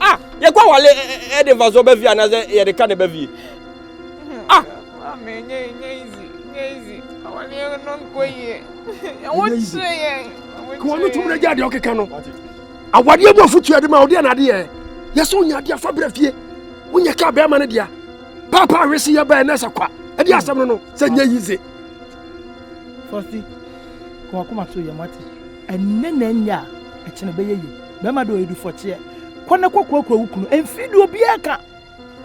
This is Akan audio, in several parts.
ah yɛkɔ awale ɛde mfasoɔ ba fie anaasɛ yɛde ka ne ba fie ah kɔɔ no tum no gya deɛ ɔkeka no awadeɛ mu afotua de ma ɔdeɛ na adeɛ yɛ sɛ ɔnya adeɛ afa berɛ fie wonyɛ ka bɛrima no dea paapa awese yɛ bɛɛ na ɛsɛ kwa ɛde asɛm no no sɛ nyɛ yize fɔsi kɔɔ akoma so yɛ mate Ɛnnɛ na ɛnyɛ a, ɛkyena ɛbɛyɛ yie. Bɛrima de ɔyɛdu fɔkyeɛ. Kɔ na kɔ kurakura wo kunu. Ɛmfiri deɛ obiara ka.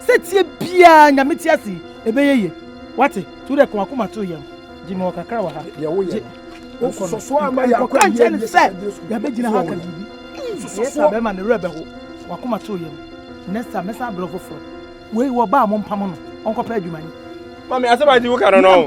Sɛteɛ biara Nyame te ase yi, ɛbɛyɛ yie. Wate? To wo deɛ ka w'akoma to yɛm. Gye mewɔ kakra wɔ ha. Deɛ woyɛ no, wososɔ so ara ma yɛakɔ awie awie ne sɛ yɛabɛgyina ha aka biribi. Ɛyɛ saa bɛrima no werɛ bɛho. W'akoma to yɛm. Next time mɛsan abrɛ wo foforɔ. Wei wɔ ba a mompamo no ɔnkɔpɛ adwuma yi. Mame asɛm a ɛdi wo ka no no.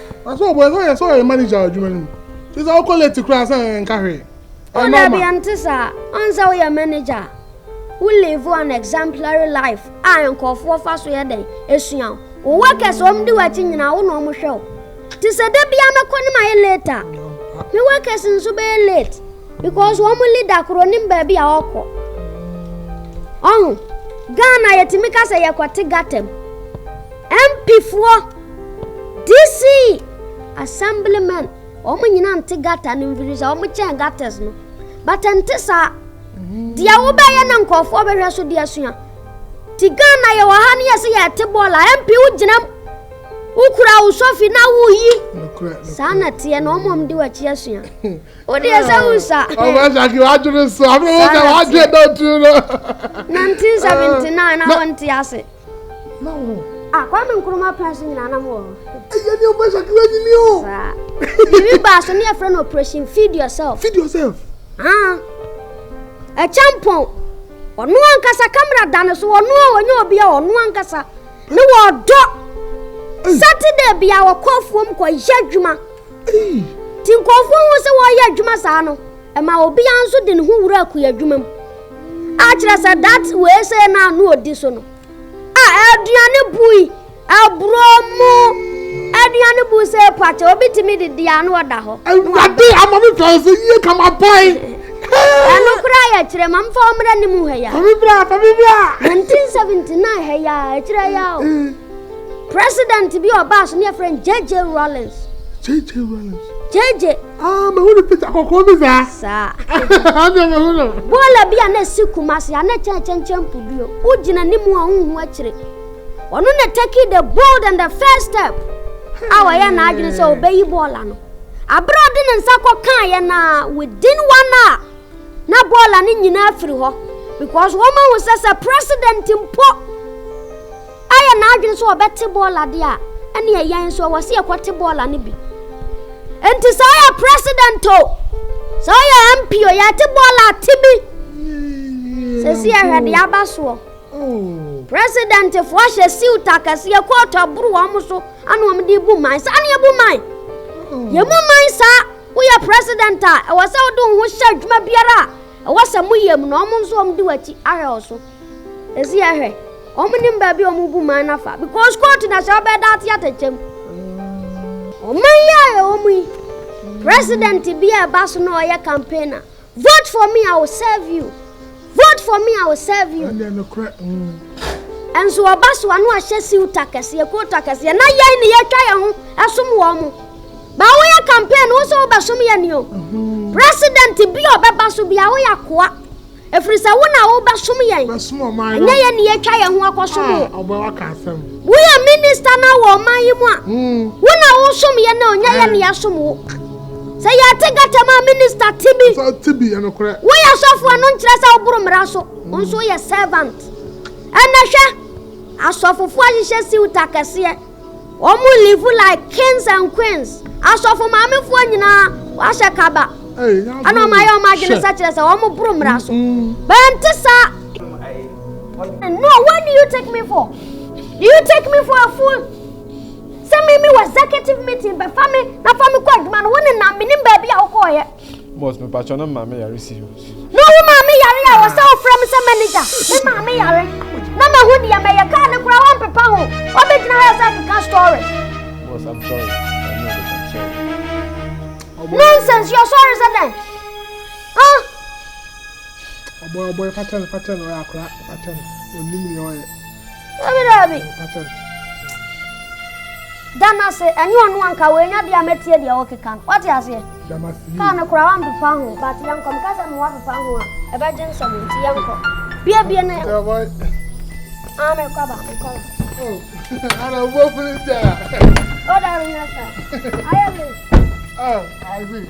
Na sɛ ɔbɔ ɛsɛ ɔyɛ sɛ ɔyɛ manager adwuma no mu te sɛ ɔkɔ late koraa sɛ ɛnka hwee. Oh dabi ɛnte saa ɔn sɛ woyɛ manager wo live an exemplary life a nkɔfoɔ fa so yɛ dɛn esua wo workers ɔm di w'akyi nyinaa wo na ɔm hwɛ wo te sɛ da bia mɛkɔ ne mayɛ late a me workers nso bɛyɛ late because ɔm leader koro nim baabi a ɔkɔ ɔho Ghana yɛtumi ka sɛ yɛkɔte gatam mpifoɔ DC, Assemblymen, wɔn nyinaa nte gata no mfiri sɛ wɔn kyɛn gatas no. But nte saa. Deɛ wobɛyɛ na nkurɔfoɔ bɛhwɛ so de asua. Ti Ghana yɛ wɔ ha no yɛ sɛ yɛte bɔɔl a MP wogyinam wokura wo sɔfi na woyi. Saa na teɛ na wɔn a wɔde w'akyi asua. Wodeɛ sɛ wo sa. Ɔbɛsaki wadwene so. Abere wo sɛ wadwene dɔntu no. 1979 na wɔnte ase. Na wɔ hɔ. Ah Kwame Nkrumah pɛn so nyinaa na mowɔ hɔ. Ɛyɛ ne ɔbɛ sakra nyini o. Saa. Biribi baa so ne ɛfrɛ no operation feed yourself. Feed yourself. Ah. Ɛkyɛmpɔn. Ɔno ankasa kamera da ne so ɔno a ɔnyɛ obi a ɔno ankasa ne wɔ ɔdɔ. Saturday bia wɔkɔ afuom kɔ yɛ adwuma. Ti nkɔfoɔ ho sɛ wɔyɛ adwuma saa no. Ɛma obiara nso de ne ho wura akuya adwuma mu. Akyerɛ sɛ dat wei sɛ na ano ɔdi so no. A aduane bui, aburo mu aduane bui sɛ pakyɛ obi tumi de di ano ɔda hɔ. Awurade ama me fɛ sɛ yie ka ma bɔe. Ɛno koraa yɛ kyerɛ ma mfa ɔmmra ne mu ha ya. Fa me bra, fa me bra. 1979 ha ya, ɛkyerɛ ya o. President bi ɔbaa so ne yɛfrɛ no JJ Rawlings. JJ Rawlings. JJ. Ah, ma wuli pita kɔkɔɔ bi saa. Saa. Ɔdi ma wuli. Bɔɔla bi a na esi kumasi a na kyɛn kyɛnkyɛn puduo. O gyina ne mu a o hu akyire. Ɔno na take the bold and the first step. A wɔyɛ n'adwene sɛ ɔbɛyi bɔɔla no. Abere a ɔde ne nsa kɔ kan yɛ na within one hour na bɔɔla no nyinaa firi hɔ because wɔn ahu sɛ sɛ president mpo. Ayɛ n'adwene sɛ ɔbɛte bɔɔla de a, ɛnneɛ yɛn nso ɛwɔ sɛ yɛkɔte bɔɔla no bi. Enti sɛ ɔyɛ president o, sɛ ɔyɛ MP o, yɛte bɔɔla te bi. Sɛsi yɛhwɛ deɛ aba soɔ. Presidentfoɔ hyɛ siwt akɛseɛ, kootu aboro wɔn so ana wɔn de bu man. Saa ne yɛbu man. Yɛmu man saa. Woyɛ president a, ɛwɔ sɛ wode wo ho hyɛ adwuma biara a ɛwɔ sɛ moyɛ mu na wɔn nso wɔn de w'akyi ahwɛ wo so. Esi yɛ hwɛ. Wɔn nim baabi a wɔn bu man na fa because court na sɛ ɔbɛ da ate atɛkyɛm. Ɔman yi a yɛwɔ mu yi, president bi a ɛba so na ɔyɛ campaigner. Vote for me, I will serve you. Vote for me, I will serve you. Ɛnso ɔba so a na wahyɛ siwt akɛseɛ, coat akɛseɛ, na yɛn ne yɛtwa yɛn ho ɛsom wɔn mo. Ba woyɛ campaign wo sɛ wobɛsom yɛ ni o. President bi a ɔbɛba so bi a woyɛ akoa. Ɛfiri sɛ wo na wobɛsom yɛn, ɛnyɛ yɛn na yɛatwa yɛn ho akɔsom wo. Woyɛ minista no wɔ ɔman yi mu a, hmm. wo na wosom yɛn na ɔnyɛ yɛn na yɛasom wo. Sɛ yɛte gata mu a minista te bi, woyɛ sɔfoɔ no nkyerɛ sɛ woboro mmara so, hmm. wo nso woyɛ servant. Ɛnɛ hwɛ, asɔfofoɔ ahyehyɛ siwta kɛseɛ. Wɔn live like kings and queens. Asɔfo maamefoɔ nyinaa wɔahyɛ kaba. Ɛna wɔn ayɛ wɔn adwene sɛ kyerɛ sɛ wɔn boro mmara so. Bɛnte saa. No, what do you take me for? Do you take me for a fool? Sɛ me me wɔ executive meeting bɛfa me na fa me kɔ adwuma no wo ne nam menim baabi a wokɔɔyɛ. Boss, mepakyɛ na maame yare si. Na wo maame yare a wɔ sɛ wofrɛ me sɛ manager. Me maame yare. Na mahu deɛ mɛyɛ kaa ne koraa wɔmpepa ho. Wɔbɛgyina ha sɛ keka story. Boss, I'm sorry. I know that I'm sorry. Nonsense, you're sorry sɛ dɛn? Huh? Ɔbɔ ɔbɔ pakyɛ no pakyɛ no ɔyɛ akora pakyɛ no ɔnim nea ɔyɛ. Dabi dabi. Dana se ɛnyɛ ɔno anka wɔanya bi a mɛtie deɛ wɔkeka no. Wate aseɛ? Kaa no koraa wampepa ho, but yɛnkɔ. Meka sɛ mmoa pepa ho a, ɛbɛgye nsɛm nti yɛnkɔ. Bie bie na yɛnkɔ. Ah, mekɔ ba, mekɔ ba. Oh, ana wobɔ funu sɛ a. Oh, dabi nyɛ saa. Ayɛ me. Oh, I agree.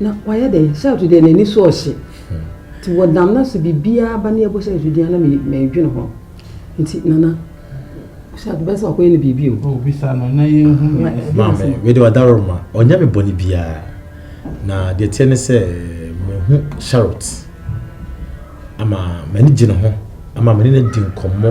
na wayɛ dɛn sɛ ɔte deɛ n'ani so ɔhye nti wɔdam no sɛ biribiara ba ne ɛbɔ sɛ ɛto dua na mɛdwene ho nti nana sɛ adobɛ sɛ wakɔyɛ no biribi o obisa no na yɛhu maame wede wadaro ma ɔnyɛ me bɔne biara na deɛ teɛ ne sɛ mehu charot ama m'ani gye ne ho ama m'ani no di nkɔmmɔ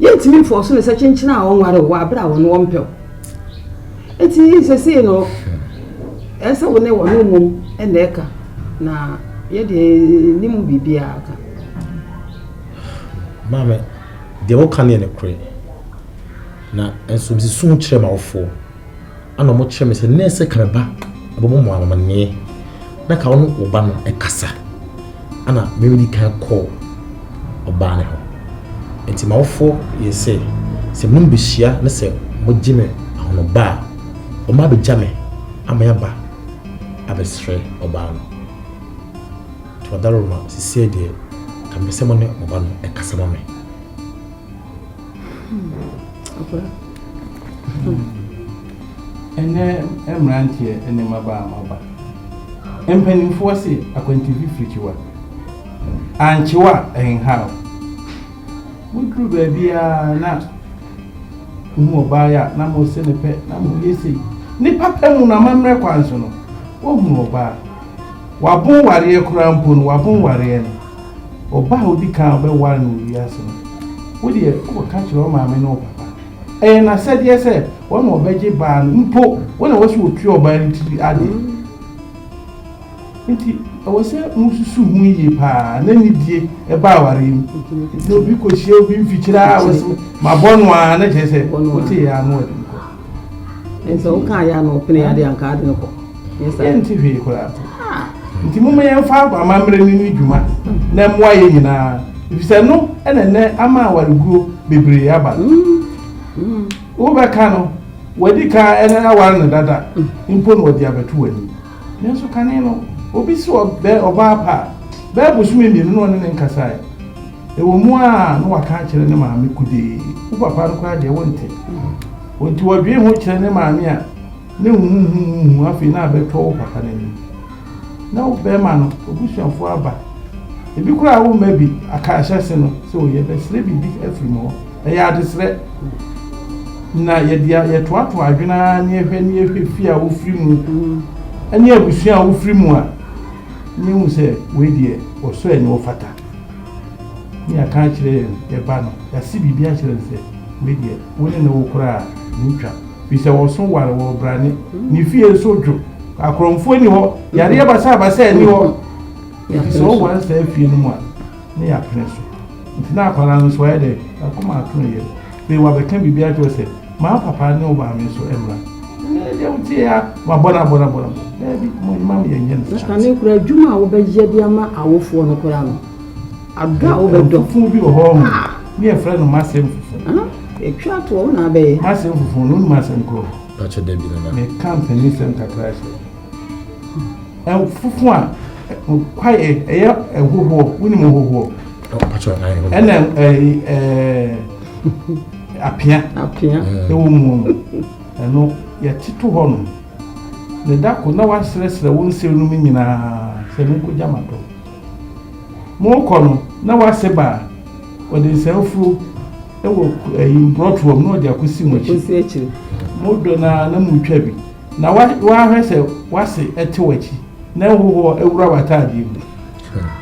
Yɛntumi mfa ɔsom sɛ kyenkyen a wɔnware wo wɔ abere a wɔn wɔmpɛ wo. Eti sesei no, ɛyɛ sɛ wo ne wɔn mmom na ɛka, na yɛ deɛ yɛnni mu biribiara ka. Maame, deɛ woka no yɛ nokorɛ, na nso mese su kyerɛ m'awofoɔ. Ana ɔmo kyerɛ me sɛ nɛɛsɛ ka me ba ɛbɛbɔ mo amaneɛ na ka ɔno wo ba no ɛkasa. Ana mewedi kan kɔɔ ɔbaa ne hɔ. Nti m'awofoɔ yɛ sɛ sɛ mene mo behyia ne sɛ mo gye me ahonoba a ɔmo abegya me ama yaba abɛsrɛ ɔbaa no. Tuadaroma sisiɛ deɛ ka mepɛ sɛ mone mo ba no ɛkasa ma me. Ɛnnɛ mmeranteɛ ne mmabaa a moaba, mpanimfoɔ se akwantu fifirikyiwa, ankye wo a ɛnhaw. Moduru baabiara na mohu ɔbaa yi a na mose ne pɛ na moyɛ sei. Ne papa mu no, amammerɛ kwan so no, woahunu ɔbaa, wabon wareɛ koraa mpo no, wabon wareɛ no. Ɔba a ɔdi kan a ɔbɛware no wɔ wiase no, wo deɛ wobɛka akyerɛ wo maame ne wo papa. Ɛyɛ n'asɛdeɛ sɛ wɔn na wɔbɛgye baa no mpo. Wo na ɛwɔ sɛ wɔtua ɔbaa no tiri ade. Enti ɛwɔ sɛ mosusu ho yie pa ara na anidie ba awareɛ mu. Enti na obi kɔhyia obi mfikyire a, ɔbɛse mabɔ no ara na kyerɛ sɛ wotee yɛ ara na wɔde no kɔ. Ɛnti sɛ wo kaa yɛ a na ɔpene yɛ adeɛ a nka ade no kɔ. Yɛnti hwee koraa. Nti moma yɛmfa amammerɛ no ni dwuma na ɛmoa yɛ nyinaa efisɛ no ɛna ɛnɛ ama awareguo bebree aba no. Wobɛka no wadi ka ɛna aware no dada mpo na ɔde abɛto w'anim. Nanso kane no obi se ɔbɛ ɔbaa pa a bɛyɛ bosome mmienu na ɔne no nkasaeɛ. Ɛwɔ mu a na waka akyerɛ ne maame kude, Wo papa no koraa deɛ wonte. Ɔnti wɔdwee ho kyerɛ ne maame a ne huhuhuhuhu afei na abɛtɔ wo papa no anim. Na wo bɛɛma no ɔbusuafoɔ aba, ɛbi koraa wo mma bi aka ahyɛse no sɛ ɔyɛ bɛsrɛ biribi afiri mu hɔ. Ɛyɛ adesrɛ. Na yɛdea yɛtoatoa adwene ara ne yɛhwɛ ne yɛhwɛ fie a wofiri mu ne abusua a wofiri mu a ne yɛhu sɛ wei deɛ ɔsɔ ani ɔfata. Ne yɛaka akyerɛ yɛn yɛn ba no, yɛase biribi akyerɛ no sɛ, Wei deɛ, wo ne no wo koraa a, ɛntwa, firi sɛ wɔso ware wɔ ɔbrane, ne fie nso dwo, akorɔmfoɔ nni hɔ, yareɛ basabasa nni hɔ, enti sɛ ɔware saa fie no mu a, ne yɛapene so. Enti na akwadaa no nso, wayɛ dɛn? N'akoma ato ne yam. Afei wabɛka biribi akyerɛ wo sɛ. Ma wo papa ne wo maame nso mmra. Ɛnde deɛ wotie yi ara, wɔabɔ no abɔ no abɔ no abɔ no. Daabi, mo mma me yɛnyɛ no saa. Na kane koraa, adwuma a wobɛyɛ de ama awofoɔ no koraa no, adɔ a wobɛdɔ. Nfufu bi wɔ hɔ ɔho, ne yɛfrɛ no m'asɛm nfufu. Ahaa, twa toɔ, wo na abɛyɛ. M'asɛm nfufu no, wonim asɛm korɔ? Pakyɛ dabi nana. Meka mpanisɛm kakra sɛ, nfufu a, kwaeɛ, ɛyɛ nhohoɔ, wonim nhohoɔ? ɛna apea ɛwɔ mu no ɛno yɛte to hɔ no ne da ko na wasrɛsrɛ wo nsere no mu nyinaa sɛ monkɔgya ma dɔ monkɔ no na wase baa ɔde nsanfuro ɛwɔ ɛyi mborɔtoɔ mu na ɔde akɔsi mo akyi modɔ no a na motwa bi na wahwɛ sɛ wase ɛte w'akyi na ɛhohoɔ ɛwura w'ataadeɛ mu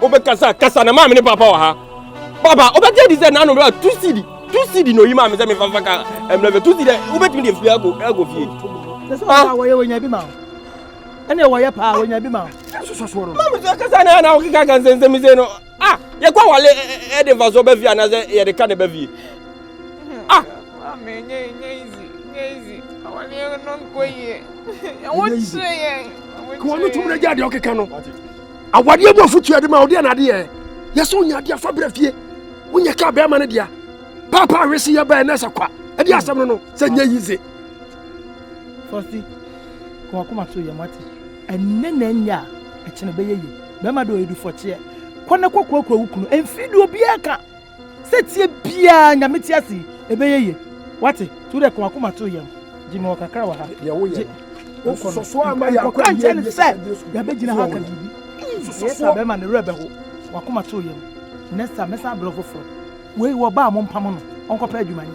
wobɛkasa kasa na maame ne papa wɔ ha papa wobɛgye di sɛ nano bɛba tu sidi tu sidi na oyi maame sɛ mefa fa ka mmerɛ fɛ tu sidi dɛ wobɛtumi deɛ fie akɔ akɔ fie sɛ sɛ ɔba wɔyɛ wɔnya bi ma ɛne wɔyɛ paa wɔnya bi ma maame sɛ kasa na na wokeka ka nsɛnsɛm sɛ no ah yɛkɔ awale ɛde mfasoɔ ba fie anaasɛ yɛde ka na ɛba fie ah kɔɔ no tum no gya deɛ ɔkeka no awadeɛ mu afotua de ma ɔdeɛ na adeɛ yɛ sɛ wonya adeɛ afa berɛ fie wonyɛ ka bɛrima no dea paapa awese yɛ bɛɛ na ɛsɛ kwa ɛde asɛm no no sɛ nyɛ yize Sɛ ɔse kɔ wakoma so yɛ moate. Ɛnnɛ na ɛnyɛ a ɛkyena ɛbɛyɛ yie bɛrima de ɔyɛdu fɔkyeɛ kɔ na kɔ kurakura wo kunu ɛmfii deɛ obiara ka sɛ tie biara nyame te ase yi ɛbɛyɛ yie wate to dɛ kɔ wakoma so yɛ gye me wɔ kakra wɔ ha deɛ woyɛ no nsɔsɔɔ ama yɛ akɔ nkyɛn ne sɛ yɛbɛgyina ha ka biribi ɛyɛ saa bɛrima ne werɛ bɛho wakoma so yɛ no nɛ saa mɛsan abrɛ foforɔ wei wɔ baa mo mpamo no ɔnkɔpɛ adwuma ni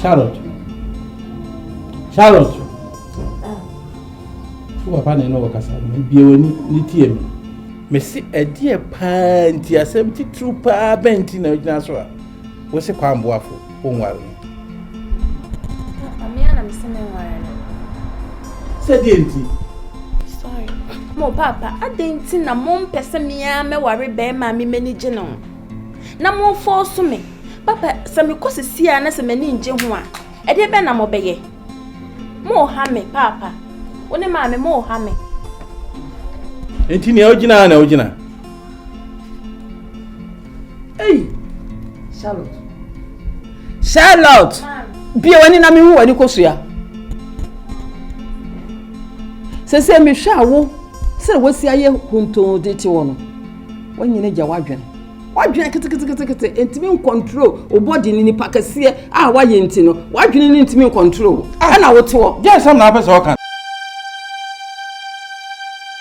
Charlotte. Charlotte. Wo papa na ɛne wɔ kasa no, bia w'ani ne tie me. Mese ɛdeɛ paa nti asɛm titiriw paa bɛn nti na agyina so a? Wose Kwame Boafo onware no? Papa, me ara na mese menware no. Sɛ deɛn nti? Sorry. Mo papa, adɛn nti na mompɛ sɛ me ara mɛware barima a me m'ani gye ne ho? Na momfɔɔso me. Papa, sɛ mekɔ sisi a na sɛ m'ani ngye ho a, ɛdeɛ bɛn na mobɛyɛ? Moreha me, papa. Wo ne maame, moreha me. Enti nea wogyina ha na wogyina? Ei! Charlotte. Charlotte! Bia w'ani na mehu w'ani kosua. Sɛ sɛ mehwɛ a wo sɛ wosi ayɛ hontoo de te wɔ no, wanyina gya w'adwene. W'adwene keteketekete ntumi nkɔntrol wo bɔde ne nipa kɛseɛ a wayɛ nti no, w'adwene no ntumi nkɔntrol wo. Ah. Ɛna wote hɔ. Deɛ nsɛm na apɛ sɛ ɔka.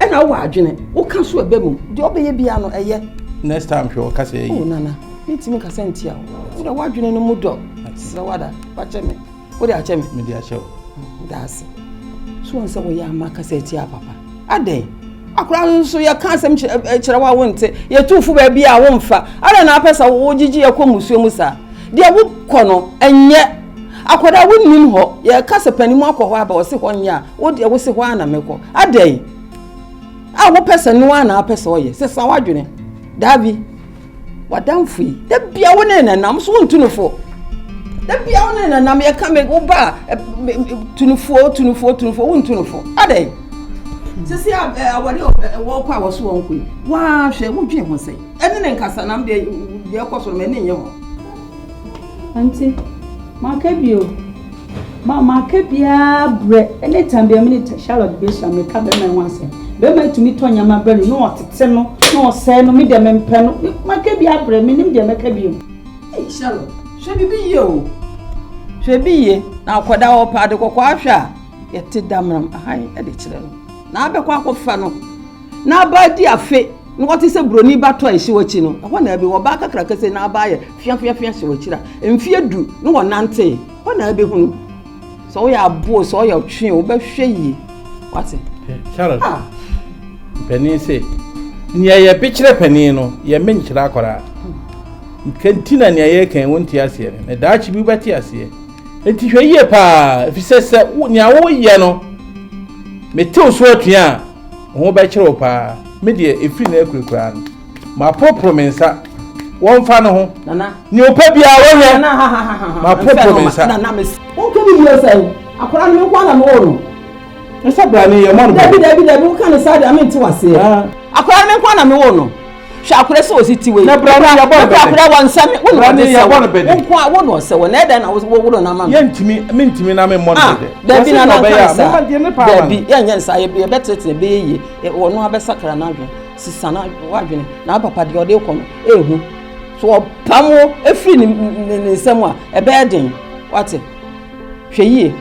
ɛna wowɔ adwene woka so ɛbɛ mu deɛ ɔbɛyɛ biara no ɛyɛ next time hwɛ ɔka sɛ ɛyi oh, nana mentumi kasa ntia wo wode woadwene no mu dɔ serɛ wada wakyɛ me wode akyɛ me mede akyɛ wo daase so wɔn sɛ woyɛ ama kasa atia papa adɛn akora no nso yɛka asɛm kyerɛ wo a wonte yɛtu fo baabi a womfa adɛn na apɛ sɛ wogyegye yɛkɔ musuo mu saa deɛ wokɔ no ɛnyɛ akwadaa wonim hɔ yɛka sɛ panim akɔ hɔ aba ɔse hɔ nyɛ a Wo deɛ wo se hɔ ara na mɛkɔ. Adɛn? A wopɛ sɛ no ara na apɛ sɛ ɔyɛ. Sesa w'adwene. Daabi. W'adamfo yi, da bia wo ne nenam so wontu no fo. Da bia wo ne nenam yɛka me wo ba eh, tu no fo, tu no fo, tu no fo, wontu no fo. Adɛn? Sisi awɔde wɔkɔ a wɔso wɔn kɔ yi, wɔahwɛ wodwen ho sɛ ɛne ne nkasanam deɛ deɛ ɛkɔ so no ma ɛne nyɛ ho. Enti maka bio, ma maka biara brɛ. Anytime biara me ne Charlotte bɛhyia, meka bɛrima yi ho asɛm. Bɛrima yi tumi tɔ nneɛma brɛ no, na ɔtete no, na ɔsɛe no, me deɛ mempɛ no. Maka biara brɛ, mennim deɛ mɛka bio. Ei Charlotte, hwɛ biribi yie o. Hwɛ bi yie, na akwadaa a ɔpɛ ade kɔkɔɔ ahwɛ a, yɛte damena mu, hann de kyerɛ no, na abɛkɔ akɔfa no. N'abaa adi afe na ɔte sɛ buroni ba tɔ a ɛhyew akyi no. Ɛhɔ na ɛbɛhu ɔbaa kakraka sɛ n'abaa yɛ feafeafea hyew akyiri a mfeɛ du na wɔnantee. Hɔ na ɛbɛhunu sɛ woyɛ aboɔ sɛ ɔyɛ ɔtwe wobɛhwɛ yie. Wate? Sharon, ah. panin se nea yɛbekyerɛ panin no yɛmɛ nkyerɛ akwaraa. Nti na nea yɛka wɔn ti aseɛ no na daakye bi wobɛte aseɛ. Nti hwɛ yie paa efisɛ sɛ nea woyɛ no metew so atua a Wo ho bɛkyere wo paa. Me deɛ, ɛfiri nnɛ akurakura no, maporoporo me nsa. Wɔmfa no ho. Nana. Nea ɔpɛ biara wɔnyɛ. Nana, ha ha ha ha. Maporoporo me nsa. Nana, me. Wonka ne yie sɛn? Akwadaa no me nkoa na mewɔ no. Nsa brane yɛ mɔ no bɛ. Dabi, dabi, dabi, woka ne saa deɛ, mente waseɛ. Akwadaa no me nkoa na mewɔ no. hwɛ akora sɛ ɔsi ti wei na bra ne yɛbɔ no bɛdɛ akora wɔ nsɛm wo na ɔde sɛ wɔ bɛdɛ nko a wo na ɔsɛ wɔ na ɛdɛn na woworo no ama me yɛntumi mentumi na memmɔ no ah, bɛdɛ daabi na nanka saa daabi yɛnyɛ nsa yɛbɛtenetene bɛyɛ yie ɔno abɛsakra no adwene sisa no adwene na apapa deɛ ɔde kɔ no ɛhu so ɔpam wo ɛfiri ne nsɛm a ɛbɛyɛ den wate hwɛ yie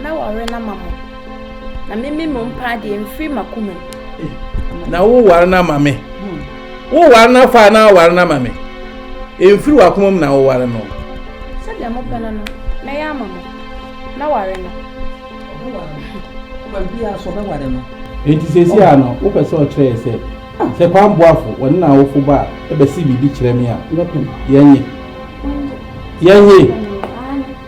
na wɔre no ama mo Na me me mo mpaa deɛ mfiri makoma mu. Na wo ware no ama me. Wo ware no afa na aware no ama me. Mfiri wakoma mu na wo ware no. Sɛdeɛ mo pɛ no no mɛyɛ ama mo. Na ware no. Baabi a so bɛware no. Enti sɛsi a no wopɛ sɛ ɔkyerɛ yɛ sɛ sɛ kwan boafo wɔne na awofo ba a ɛbɛsi biribi kyerɛ me a yɛnye yɛnye.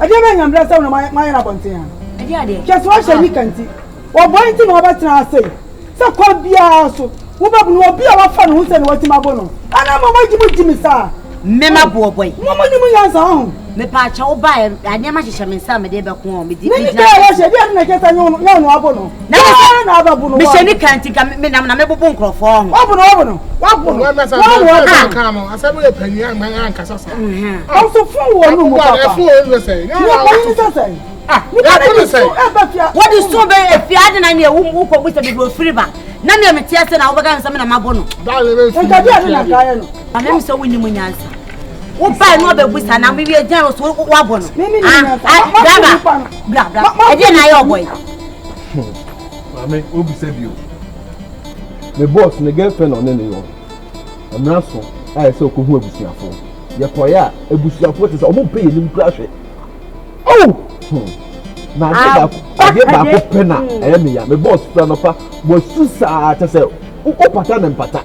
ɛdeɛ bɛ nyambrɛ sɛ wona mayɛ no abɔnten ha hwɛ so wahyɛ nika nti wɔbɔe nti na wɔbɛtena ase sɛ kɔ biara so wobɛbu no obi a wafa ne ho sɛ ne watumi abo no ɛna ma mogye mo gye me saa mmɛma boɔ bɔe mo mo ne mo nyansa ho mepa akyɛ wo ba nneɛma hyehyɛ me nsa a mede bɛko ɔ medi medi na ɛyɛ hyɛ deɛ ɛna kyɛ sɛ nyɛ ɔno abo no mehyɛ ne ka nti ka menam na mebobo nkurɔfoɔ ho ɔbono ɔbono wabono ɔsofo wɔ no mu papa wode so bɛ afie ade na neɛ wokɔbu sɛ mede ɔfiri ba na neɛ meteɛ sɛ na wobɛka me sɛ mena mabo no amem sɛ wonim nyansa wobae na ɔbɛbu sa na mewie gyɛn wo so woabɔ no ɛdeɛ na ayɛ ɔbɔ yi Hmm. Maame, o bisa bio. Me boss ne girlfriend ɔne ne yɔ. Mmara so a ɛsɛ okohu abusuafo. Yɛkɔe a abusuafo te sɛ ɔmo mpɛ yɛnim kura hwɛ. Oh! Hmm. Na adeɛ baako adeɛ baako pɛ na ɛyɛ me ya. Me boss fira no pa. Wasu saa kyɛ sɛ wopata ne mpata.